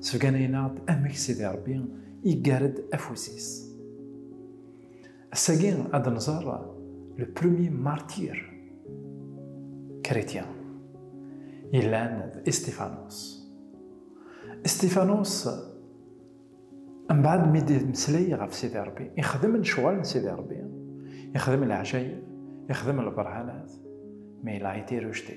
Sbeganayen-aɣ-d amek Sidi Ṛebbi iggar-d afus-is. Ass-agi ad nẓer le premier martyr chrétien yellan d Estifanos. Estifanos mbaɛd mi d-meslay ɣef Sidi Ṛebbi, ixdem lecɣal n Sidi Ṛebbi, ixdem leɛjayeb, ixdem lberhanat, mais il a été rejeté.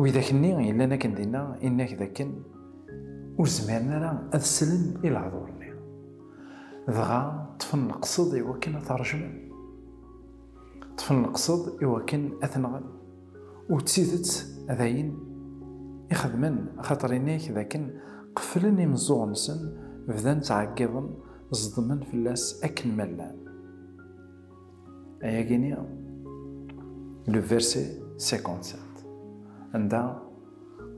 Widak-nni yellan akken dinna inna-k d akken ur zmiren ara ad slen i lehdur-nni. Dɣa ṭṭfen leqsed i wakken ad t-rejmen. Ṭṭfen leqsed i wakken ad t-nɣen. U d tidet d ayen i xedmen, axaṭer inna-k d akken qeflen imeẓẓuɣen-nsen, bdan ttɛeggiḍen, ẓedmen fell-as akken ma llan. Ayagini, le verset 57. Anda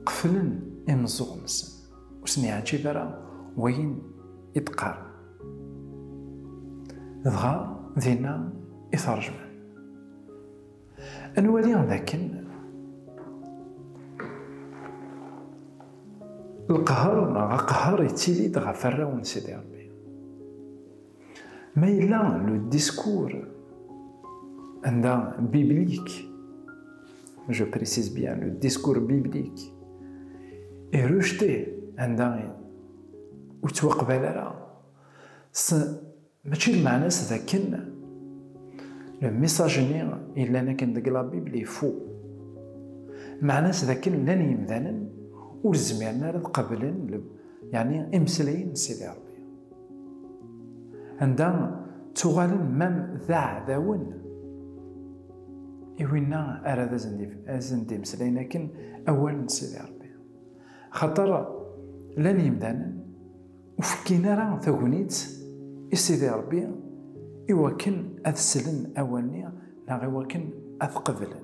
qeflen imeẓẓuɣ-nsen. Ur sen-yeɛǧib ara wayen i d-qqaren. Dɣa dinna i t-rejmen. Ad nwali dakken lqehṛ neɣ aqehṛ yettili-d ɣef arraw n Sidi Ṛebbi. Ma yella le discours anda biblique, je précise bien, le discours biblique est rejeté anda ur ttwaqbal ara mačči d meɛna-s d akken le message-nni yellan akken deg la Bible est faux meɛna-s d akken llan yimdanen ur zmiren ara ad qablen yani imeslayen n Sidi Rebbi Anda ttuɣalen mam d aɛdawen i winna ara d asen-d-imeslayen akken awal n Sidi Rebbi. Axaṭer llan yimdanen ur fekkin ara tagnit i Sidi Rebbi i wakken ad slen awal-nni neɣ i wakken ad t-qeblen.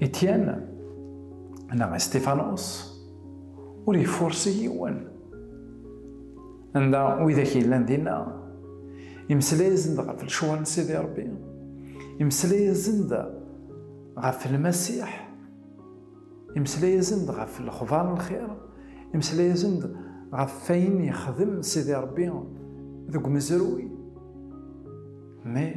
Ityan neɣ Istifanus ur yefursi yiwen. Anda widak yellan dinna, imesla-yasen-d ɣef lecwa n Sidi Rebbi, imesla-yasen-d ɣef Lmasiḥ, imesla-yasen-d ɣef lexbar n lxir, imesla-yasen-d ɣef wayen yexdem Sidi Rebbi deg umezruy. Mais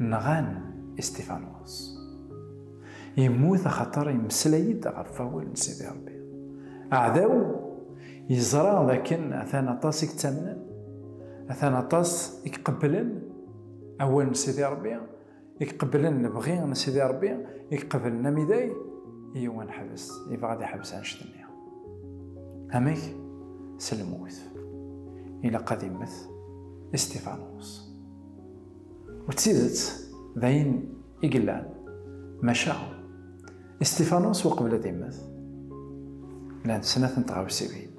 Nɣan Istifanos. Yemmut axaṭer yemmeslay-d ɣef wawal n Sidi Ṛebbi. Aɛdaw yeẓra d akken atan aṭas i yettamnen, atan aṭas i iqebblen awal n Sidi Ṛebbi, i iqebblen lebɣi n Sidi Ṛebbi, i iqebblen amiday, iyyw ad neḥbes, yebɣa ad iḥbes annect-nni. Amek? S lmut. Ilaq ad immet Istifanos. U d tidet, d ayen i yellan. Maca, Isṭifanus uqbel ad immet, llant snat n tɣawsiwin.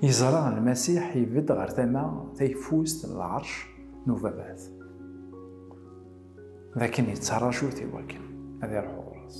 Yeẓra Lmasiḥ ibedd ɣer tama tayeffust n lɛerc n Ubabat, d akken yettaraju-t iwakken ad iruḥ ɣur-s.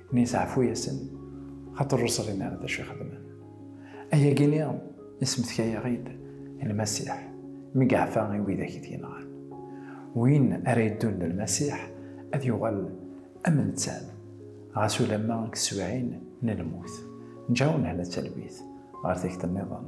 mi yesaɛfu-yasen xaṭer ur ẓrin ara d acu ixedmen. Ayagi-nni yesmetka-yaɣ-id Lmasiḥ mi yeɛfa i widak i t-yenɣan. Win ara yeddun d Lmasiḥ ad yuɣal am nettat, ɣas ulamma deg teswiɛin n lmut. Nǧaw nehla talwit ɣer tikti nniḍen.